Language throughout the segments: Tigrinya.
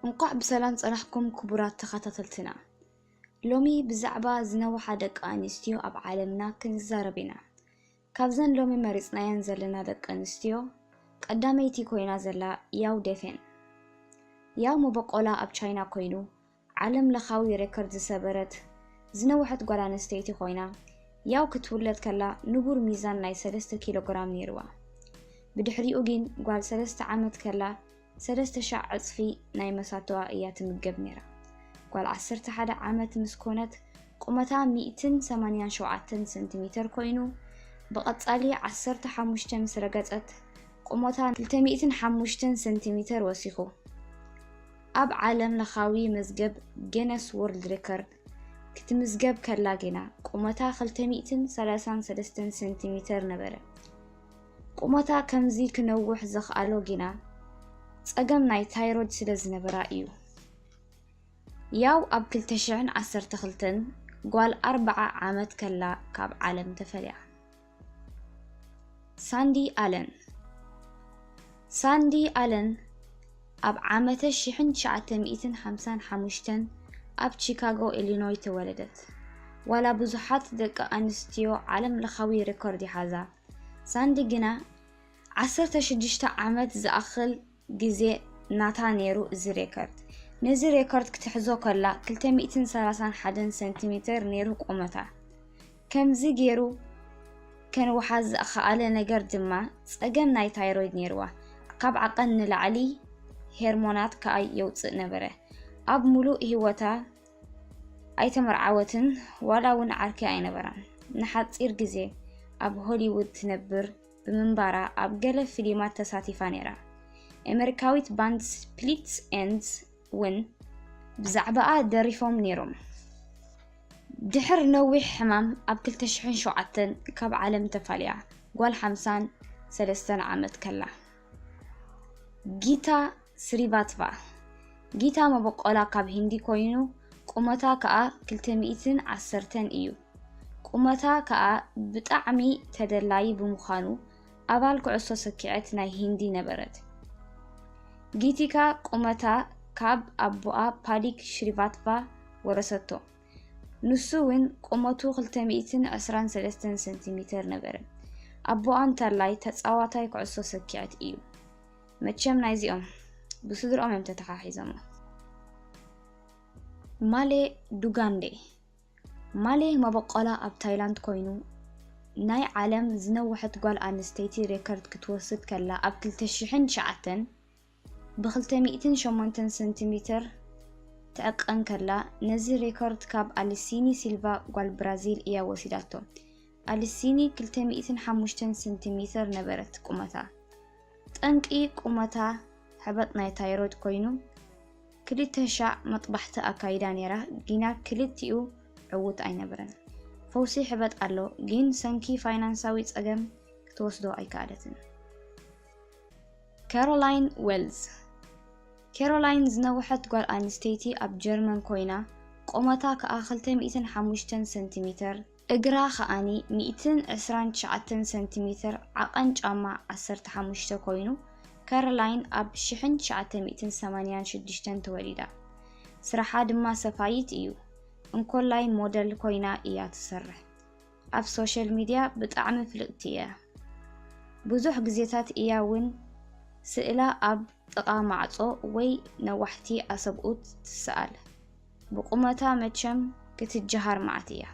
እንኳዕ ብሰላም ፀናሕኩም ክቡራት ተኸታተልትና። ሎሚ ብዛዕባ ዝነውሓ ደቂ ኣንስትዮ ኣብ ዓለምና ክንዛረብ ኢና። ካብዘን ሎሚ መሪፅናየን ዘለና ደቂ ኣንስትዮ ቀዳመይቲ ኮይና ዘላ ያው ዴፌን። ያው መበቆላ ኣብ ቻይና ኮይኑ ዓለም ለኻዊ ሬከርድ ዝሰበረት ዝነውሐት ጓል ኣንስተይቲ ኮይና፣ ያው ክትውለድ ከላ ንቡር ሚዛን ናይ ሰለስተ ኪሎ ግራም ነይርዋ። ብድሕሪኡ ጊን ጓል ሰለስተ ዓመት ከላ ሰለስተ ሻዕ ዕጽፊ ናይ መሳቶኣ እያ ትምገብ ነይራ። ጓል ዓሰርተ ሓደ ዓመት ምስ ኮነት ቁመታ ሚእትን ሰማንያን ሸውዓተን ሰንቲሜተር ኮይኑ፣ ብቐጻሊ ዓሰርተ ሓሙሽተ ምስ ረገጸት ቁመታ ክልተ ሚእትን ሓሙሽተን ሰንቲሜተር ወሲኹ። ኣብ ዓለም ለኻዊ መዝገብ ጌነስ ዎርልድ ሬከርድ ክትምዝገብ ከላ ግና ቁመታ ክልተ ሚእትን ሰላሳን ሰለስተን ሰንቲ ሚተር ነበረ። ቁመታ ከምዚ ክነውሕ ዘኽኣሎ ግና ጸገም ናይ ታይሮይድ ስለ ዝነበራ እዩ። ያው ኣብ ክልተ ሽሕን ዓሰርተ ክልተን ጓል ኣርብዓ ዓመት ከላ ካብ ዓለም ተፈልያ። ሳንዲ ኣለን ሳንዲ ኣለን ኣብ ዓመተ ሽሕን ትሽዓተ ሚእትን ሓምሳን ሓሙሽተን ኣብ ቺካጎ ኢሊኖይ ተወለደት። ዋላ ብዙሓት ደቂ ኣንስትዮ ዓለም ለኻዊ ሬኮርድ ይሓዛ፣ ሳንዲ ግና ዓሰርተ ሽዱሽተ ዓመት ዝኣኽል ግዜ ናታ ነይሩ እዚ ሬከርድ። ነዚ ሬከርድ ክትሕዞ ከላ ክልተ ሚእትን ሰላሳን ሓደን ሰንቲሜተር ነይሩ ቁመታ። ከምዚ ገይሩ ከንውሓ ዘኸኣለ ነገር ድማ ጸገም ናይ ታይሮይድ ነይርዋ። ካብ ዓቐን ንላዕሊ ሄርሞናት ከኣ የውጽእ ነበረ። ኣብ ምሉእ ህይወታ ኣይተመርዓወትን ዋላ እውን ዓርኪ ኣይነበራን። ንሓጺር ግዜ ኣብ ሆሊውድ ትነብር ብምንባራ ኣብ ገለ ፊሊማት ተሳቲፋ ነይራ። ኤመሪካዊት ባንድ ስፕሊት ኤንድስ ውን ብዛዕባኣ ደሪፎም ነይሮም። ድሕር ነዊሕ ሕማም ኣብ ክልተ ሽሕን ሸውዓተን ካብ ዓለም ተፋልያ ጓል ሓምሳን ሰለስተን ዓመት ከላ። ጊታ ስሪቫትቫ፣ ጊታ መበቆላ ካብ ሂንዲ ኮይኑ ቁመታ ከኣ ክልተ ሚእትን ዓሰርተን እዩ። ቁመታ ከኣ ብጣዕሚ ተደላዪ ብምዃኑ ኣባል ኩዕሶ ሰኪዐት ናይ ሂንዲ ነበረት። ጊቲካ ቁመታ ካብ ኣቦኣ ፓዲክ ሽሪቫትቫ ወረሰቶ። ንሱ ውን ቁመቱ ክልተ ሚእትን ዕስራን ሰለስተን ሰንቲሚተር ነበረ። ኣቦኣ እንተላይ ተጻዋታይ ኩዕሶ ሰኪዐት እዩ። መቸም ናይዚኦም ብስድርኦም እዮም ተተሓሒዞሞ። ማሌ ዱጋንዴ ማሌ መበቆላ ኣብ ታይላንድ ኮይኑ ናይ ዓለም ዝነወሐት ጓል ኣንስተይቲ ሬከርድ ክትወስድ ከላ ኣብ 2009 ብ208 ሰንቲሜትር ትዕቀን ከላ ነዚ ሬኮርድ ካብ ኣሊሲኒ ሲልቫ ጓል ብራዚል እያ ወሲዳቶ። ኣሊሲኒ 205 ሰንቲሜትር ነበረት ቁመታ። ጠንቂ ቁመታ ሕበጥ ናይ ታይሮይድ ኮይኑ ክልተ ሻዕ መጥባሕቲ ኣካይዳ ነይራ ጊና ክልቲኡ ዕውት ኣይነበረን። ፈውሲ ሕበጥ ኣሎ ጊን ሰንኪ ፋይናንሳዊ ጸገም ክትወስዶ ኣይከኣለትን። ካሮላይን ዌልዝ ካሮላይን ዝነውሐት ጓል ኣንስተይቲ ኣብ ጀርመን ኮይና ቆመታ ከኣ ክልተ ሚእትን ሓሙሽተን ሰንቲሚተር እግራ ከኣኒ ሚእትን ዕስራን ትሽዓተን ሰንቲሜተር ዓቐን ጫማ ዓሰርተ ሓሙሽተ ኮይኑ፣ ካሮላይን ኣብ ሽሕን ትሽዓተ ሚእትን ሰማንያን ሽዱሽተን ተወሊዳ። ስራሓ ድማ ሰፋይት እዩ። እንኮላይ ሞደል ኮይና እያ ትሰርሕ። ኣብ ሶሻል ሚድያ ብጣዕሚ ፍልጥቲ እያ። ብዙሕ ግዜታት እያ እውን ስእላ ኣብ ጥቓ ማዕጾ ወይ ነዋሕቲ ኣሰብኡት ትስኣል። ብቁመታ መቸም ክትጀሃር መዓት እያ።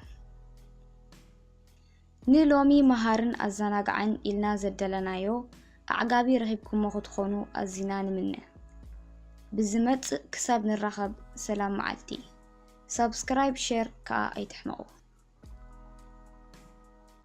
ን ሎሚ መሃርን ኣዘናጋዕን ኢልና ዘደለናዮ ኣዕጋቢ ረኺብኩሞ ክትኾኑ ኣዚና ንምነ። ብዝመጽእ ክሳብ ንራኸብ ሰላም መዓልቲ። ሳብስክራይብ ሸር ከኣ ኣይትሕመቑ።